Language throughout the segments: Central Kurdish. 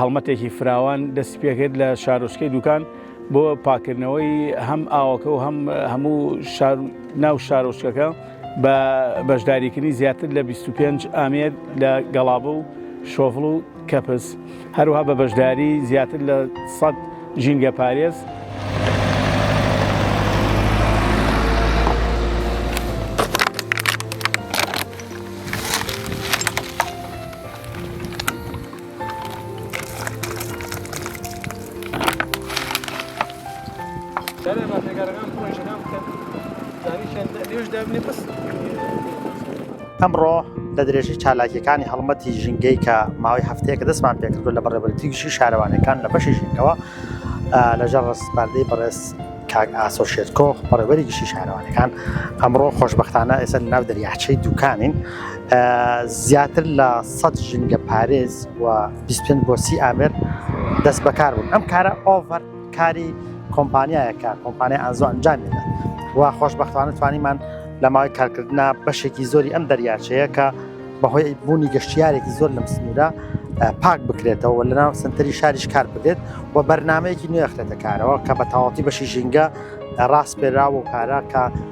هەڵمەتێکی فراوان دەستی پێکرد لە شارۆچکەی دوکان بۆ پاکردنەوەی هەم ئاوەکە و هەم هەموو ناو شارۆچکەکە بە بەشداریکردنی زیاتر لە 25 ئامێر لە گەڵابە و شۆڤڵ و کەپس هەروها بە بەشداری زیاتر لە 100 ژینگە پارێز ئەمڕۆ لە درێژەی چالاکیەکانی هەڵمەتی ژینگەی کە ماوەی هەفتەیەکە دەستمان پێکردو لە بەڕێوەبەرێتی گشتی شارەوانیەکان لە بەشی ژینگەوە لەژێر ڕەسپاردەی بەڕێز کاک ئاسۆ شێرکۆ بەڕێوەبەری گشتی شارەوانەکان ئەمڕۆ خۆشبەختانە ئێستا لەناو دەریاچەی دوکانین زیاتر لە سەد ژینگە پارێز و بیست پێنج بۆ سی ئامێر دەست بەکار بوون ئەم کارە ئۆڤەر کاری کۆمپانیایەکە کۆمپانیا ئازۆ ئەنجامێنە و خۆشببختوانە توانیمان لە ماوەی کارکردنا بەشێکی زۆری ئەم دەریاچەیە کە بەهۆی بوونی گەشتیارێکی زۆر لەم سنوورە پاک بکرێتەوە لە ناو سنتەری شاریش کار بکرێت و بەرنمەیەکی نوێخرێتە کارەوە کە بە تەواتی بەشی ژینگە ڕاست پێراوە و کارە کە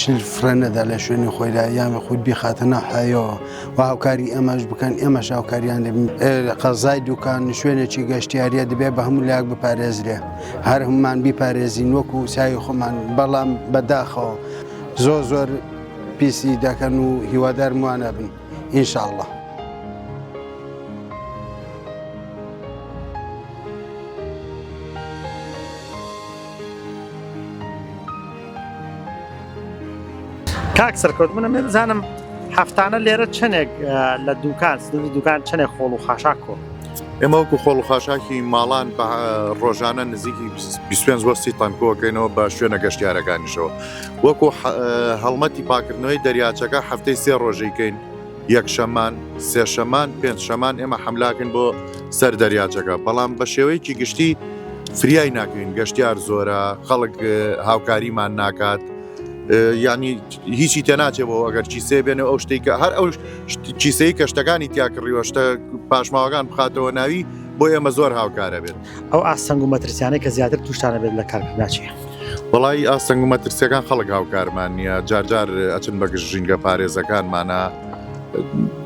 شل فڕێ نەدا لە شوێنی خۆیدا یان خود بیخاتە ناو حەیەوە و هاوکاری ئێمەش بکەن ئێمەش هاوکاریان دەبین قەزای دوکان شوێنێکی گەشتیاریە دەبێ بە هەموو لاک بپارێزرێ هەر هەمومان بیپارێزین وەکو ساوی خۆمان بەڵام بەداخەوە زۆر زۆر پیسی دەکەن و هیوادار موانە بن ئینشاءله کاک سەرکەوت منم من بزانم هەفتانە لێرە چەندێک لە دوکان سنووری دوکان چەندێک خۆڵ و خاشاک کۆ ئێمە وەکو خۆڵ و خاشاکی ماڵان بە ڕۆژانە نزیکی 25 وەستی تەنکۆکەینەوە بە شوێنە گەشتیارەکانیشەوە وەکو هەڵمەتی پاکردنەوەی دەریاچەکە هەفتەی سێ ڕۆژەیکەین یەکشەمان، سێشەمان، پێنجشەمان ئێمە حەملاکن بۆ سەر دەریاچەکە، بەڵام بە شێوەیەکی گشتی فریای ناکەین، گەشتیار زۆرە، خەڵک هاوکاریمان ناکات، یانی هیچی تێناچێ بۆ ئەگەر کیسێ بێنێ ئەو شتێک کە هەر ئەو کیسەی کە شتەکانی تیا کڕیوە شتە پاشماوەکان بخاتەوە ناوی بۆ ئێمە زۆر هاوکارە بێت. ئەو ئاستەنگ و مەترسیانەی کە زیاتر تووشتانە بێت لە کارکردناچی وڵی ئاستەنگ و مەترسیەکان خەڵک هاوکارمان نییە جارجار ئەچن بەگشت ژینگە پارێزەکانمانە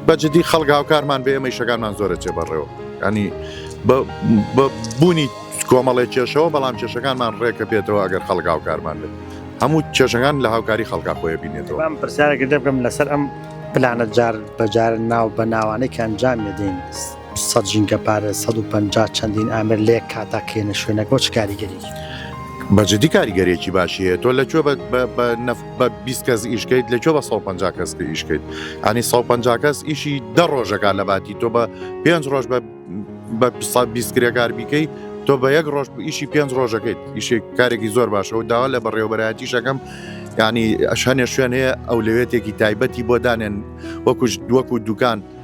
بەجددی خەڵک هاوکارمان بێ ئەمە شەکانمان زۆرە چێ بەڕێەوە ینی بوونی کۆمەڵێک کێشەوە بەڵام کێشەکانمان ڕێکە پێێتەوە ئەگەر خەڵک هاوکارمان بێت هەموو کێشەکان لە هاوکاری خەڵکا خۆی بینێتەوە ئەم پرسیارێکە دەبم لەسەر ئەم پلانە جار بەجار ناو بە ناوانێکیان جام دەین سەد ژینگە پارێز سەد و پەنجا چەندین ئامر لەیەک کاتا کێنە شوێنەک بۆ چ کاریگەریەکی دەبێت؟ بە جدی کاریگەریەکی باشی هەیە تۆ لە کوێ بە بە بە نەف بە بیست کەس ئیش کەیت لە کوێ بە سەد و پەنجا کەس کە ئیش کەیت ئەنی سەد و پەنجا کەس ئیشی دە ڕۆژەکە لە باتی تۆ بە پێنج ڕۆژ بە بە سەد بیست کرێکار بیکەی تۆ بە یەک ڕۆژ ئیشی پێنج ڕۆژەکەیت ئیشێک کارێکی زۆر باشە و داوا لە بەڕێوەبەرایەتیشەکەم ینی ئەش هەنێ شوێن هەیە ئەولوێتێکی تایبەتی بۆ دانێن وەکوش دووەک و دوکان